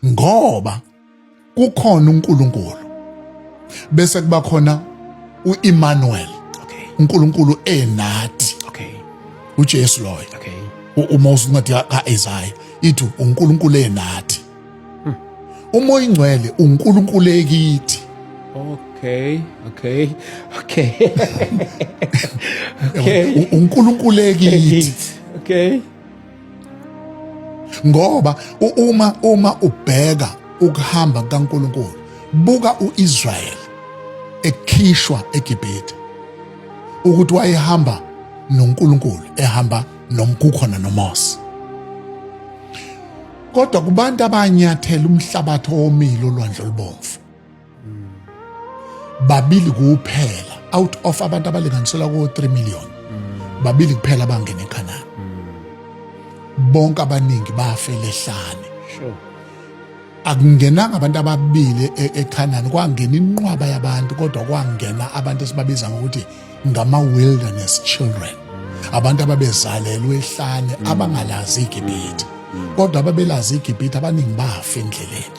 ngoba kukhona uNkulunkulu bese kuba khona uEmmanuel okay uNkulunkulu enathi okay uJesu loyo okay uma usincwadi kaIsaiah ithi uNkulunkulu enathi hmm. uma oyingcwele uNkulunkulu ekithi okay okay okay okay uNkulunkulu ekithi okay ngoba uma uma ubheka ukuhamba kukaNkulunkulu buka uIsrael ekhishwa eGibhithe ukuthi wayehamba noNkulunkulu ehamba nomkukhona noMose kodwa kubantu abanyathela umhlabathi owomile olwandle olubomvu babili kuphela out of abantu abalinganiselwa ko-3 million babili kuphela abangena ekhanani bonke abaningi bafela ehlane akungenanga abantu ababili e-, ekhanani kwangena inqwaba yabantu kodwa kwangena abantu esibabiza ngokuthi ngama-wilderness children abantu ababezalelwe ehlane abangalazi igibhithe kodwa ababelazi igibhithe abaningi bafa endleleni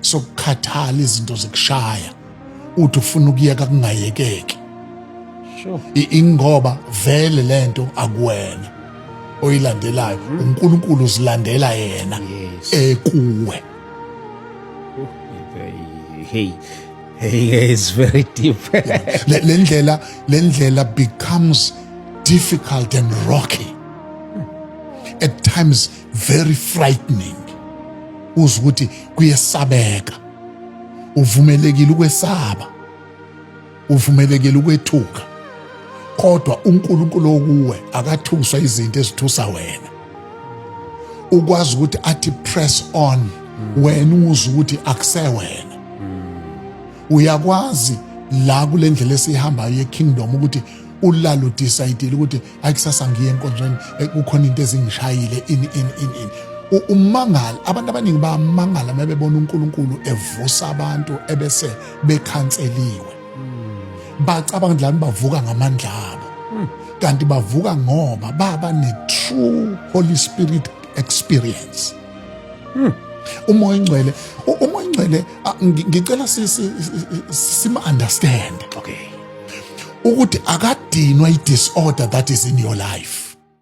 sokukhathala izinto zikushaya uthi ufuna ukuyeka kungayekeki ingoba vele lento akuwena oyilandelayo mhm. uNkulunkulu uzilandela yena ekuwe oh, hey hey it's very deep le ndlela le ndlela becomes difficult and rocky at times very frightening uze ukuthi kuyesabeka uvumelekile ukwesaba uvumelekile ukwethuka kodwa uNkulunkulu okuwe akathuswa izinto ezithusa wena ukwazi ukuthi athi press on wena uze ukuthi akusewena uyakwazi la kule ndlela esiyihambayo ye-kingdom ukuthi ulalo decide ukuthi hayi kusasa ngiye enkonzweni eh, kukhona into ezingishayile ini ini ini ini umangala abantu abaningi bamangala uma bebona uNkulunkulu evusa abantu ebese bekhanseliwe hmm. bacabanga ukuthi bavuka ngamandla abo hmm. kanti bavuka ngoba baba ne-true holy spirit experience hmm. umoya ingcwele umoya ingcwele ngicela sima-understand okay ukuthi akadinwa i-disorder that is in your life